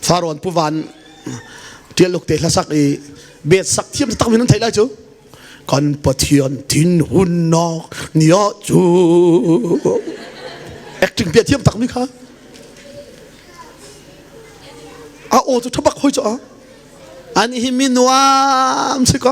Farawn puvan tialuk te hlasak i bet sak thiam tak min thei lai cu kan pathian tin hun nok nia cu acting bia thiam tak mi kha a aw cu thabak hoi cho a an hi mi nuam si ko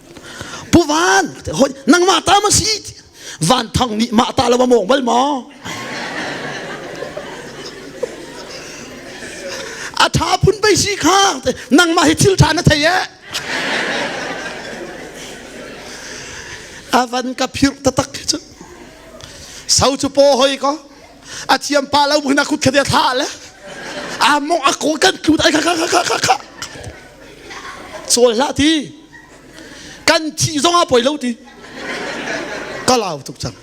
pu van nangmah ta ma si van thang nih mah ta lawa mong bal ma a tha phun pe si kha nangmah hi thil tha na thei e avan ka phir tatak chu sau chu po hoi ko a chiam pa lo mu na khut khade tha le a mong a ko kan tlu dai ka ka ka ka ka Cawl hlah ti kan thih zong a poi lo ti ka lau tuk cang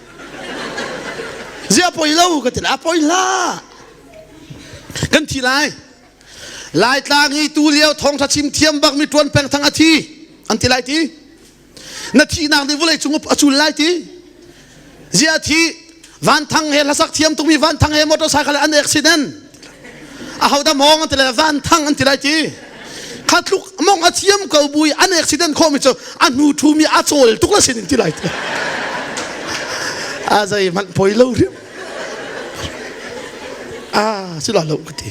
zia poi lo ka ti a poi la kan thi lai lai tlang i tu lio thawngtha chim thiam bak mi tuan peng thang a thi an ti lai ti na thihnak nih vawlei cung a cul lai ti zia thi van thang he hlasak thiam tungmi van thang he motor cycle an accident a ho da mong an ti lai van thang an ti lai ti kha tluk mong a thiam ko bui an accident khomi cu a hnu thumi a cawl tuk la sin ti lai a zei man poi lo riam a si lo lo ka ti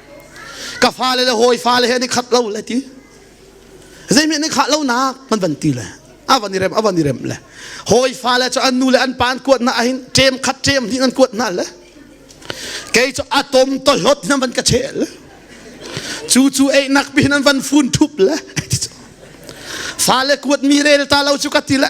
ka fale le hawi fale he ni khat lo le ti zeimi ni khat lo nak man van ti le avan i rem avan i rem le hawi fale cu an nu le an pan kuat na ahin ṭem khat ṭem hnih an kuat na le kei cu atom to hlot na van ka chel cu cu ei nak pi nan van fun thup le fale kuat mi rel ta lo cu ka ti le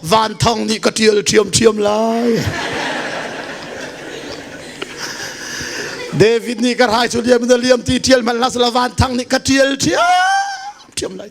Van Thang nih ka ṭial ṭhiamṭhiam lai. David nih ka rai cu liam na liam ti ṭial hmanh hlah sala Van Thang nih ka ṭial ṭhiamṭhiam lai.